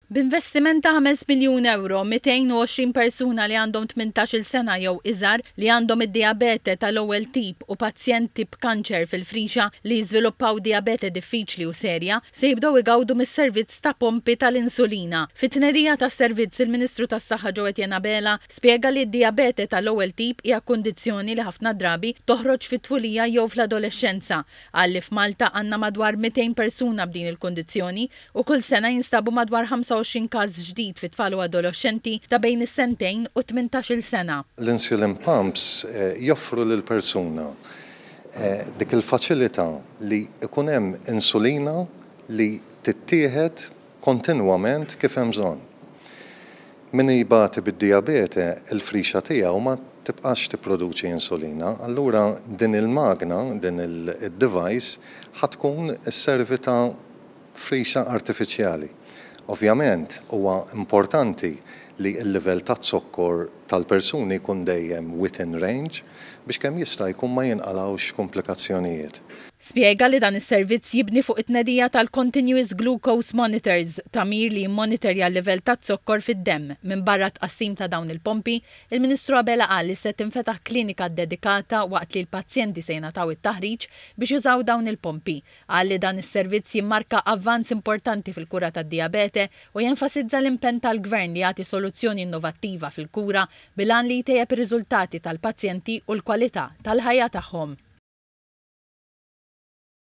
B'investiment ta' ħames miljun ewro, 220 persuna li għandhom tmintax-il sena jew iżgħar, li għandhom id-dijabete tal-ewwel tip u pazjenti b'kanċer fil-frixa li jiżviluppaw dijabete diffiċli u serja, se jibdew igawdu mis-servizz ta' pompi tal-insulina. Fit-tnerija tas-servizz, il-Ministru tas-Saħħa Joe Etienne Abela spjega li d-dijabete tal-ewwel tip hija kundizzjoni li ħafna drabi toħroġ fit-tfulija jew fl-adolexxenza. Qal li f'Malta għandna madwar 200 persuna b'din il-kundizzjoni, u kull sena jinstabu madwar 25 każ ġdid fi tfal u adoloxxenti ta' bejn is-sentejn u t-tmintax-il sena. L-insulin pumps joffru lill-persuna dik il-faċilità li jkun hemm insulina li tittieħed kontinwament kif hemm bżonn. Min jbati bid-dijabete il-frixa tiegħu ma tibqax tipproduċi insulina, allura din il-magna, din id-device ħa tkun sservi ta' frixa artifiċjali. Ovvjament, huwa importanti li l-livell taz-zokkor tal-persuni jkun dejjem within range biex kemm jista' jkun ma jinqalgħux komplikazzjonijiet. Spjega li dan is-servizz jibni fuq it-tnedija tal-Continuous Glucose Monitors, tagħmir li jimmonitorja l-livell taz-zokkor fid-demm. Minbarra t-tqassim ta' dawn il-pompi, il-Ministru Abela qal li se tinfetaħ klinika ddedikata waqt li l-pazjenti se jingħataw it-taħriġ biex jużaw dawn il-pompi. Qal li dan is-servizz jimmarka avvanz importanti fil-kura tad-dijabete u jenfasizza l-impenn tal-Gvern li jagħti soluzzjoni innovattiva fil-kura bil-għan li jtejjeb ir-riżultati tal-pazjenti u l-kwalità tal-ħajja tagħhom.